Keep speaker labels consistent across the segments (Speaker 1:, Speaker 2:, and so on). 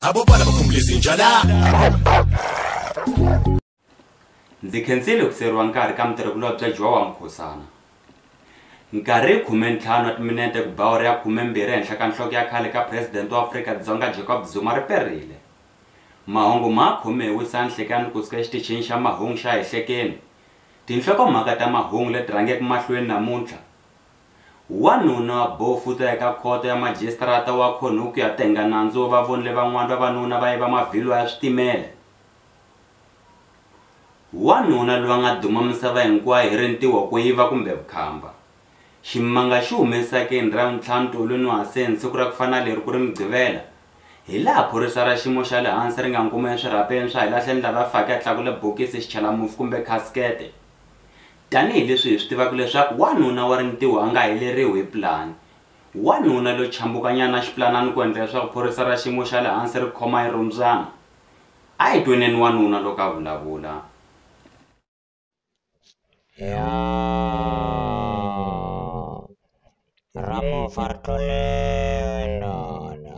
Speaker 1: abo bana bakhumula izinja la
Speaker 2: ndzi khensile ku siyeriwa nkarhi ka mutirhikulobye bya jowa mukhosana nkarhi hi khume ntlhanu wa timinete ku bawuri ya khume mbirhi ehenhla ka nhloko ya khale ka presidente wa afrika dzonga jacob zuma ri perile mahungu ma khome hi wisa nhlekani kusuka exitichini xa mahungu xa hehlekeni tinhlokomhaka ta mahungu leti rhangeke mahlweni namuntlha Wanuna wa bofu u ta ya eka khoto ya majisitarata wa khono ku ya tenga nandzu wo va vonile van'wana vavanuna va yiva mavhilwa ya switimela. Wanuna loyi a nga duma misava hinkwayo hi rintiho, ku yiva kumbe vukhamba. Ximanga xi hume esakeni hi Ravuntlhanu tolo ni wase ni siku ra ku fana na leri ku ri Mugqivela, hilaha phorisa ra xiyimo xa le hansi ri nga n'wi kuma eswirhapeni swa hilaha tlhelo ni lava faka ya tlakule bokisi, xichalamufi kumbe khasikete. Tanihi leswi hi swi tivaka leswaku wanuna wa rintiho a nga heleriwi hi pulani, wanuna lo chambukanyana xipulanani ku endla leswaku phorisa ra xiyimo xa le hansi ri khoma yi rhumbyana. A hi tweneni wanuna loko a vulavula. Yaa!
Speaker 3: Ra mufa ri tluleriwe ndoda.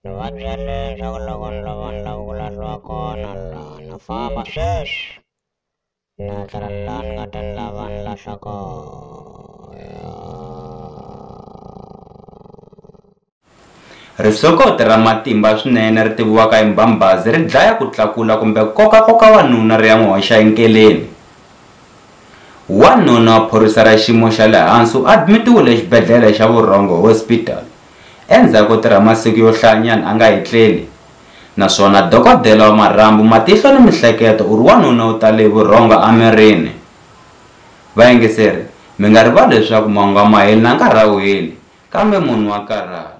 Speaker 3: Ni va byele leswaku loko ni lova ni lava ku lahliwa kona laha, na famba sweswi! Nyatrellah kadalla walla saka
Speaker 2: Risokoti ra matimba swinene ri tiviwaka hi mbhambazi ri dlaya ku tlakula kumbe koka-koka wanuna ri ya n'wi hoxa enkeleni. Wanuna wa phorisa ra xiyimo xa le hansi u admitiwile exibedhlele xa Vurhongo Hospital Endzhaku ko tirha masiku yo hlayanyana a nga etleli, naswona dokodela wa marhambu, matihlo ni mihleketo u ri wanuna u tale hi vurhongo emirini. Vayingiseri, mi nga rivali leswaku mahungu a ma heli na nkarhi a wu heli, kambe munhu wa karhala.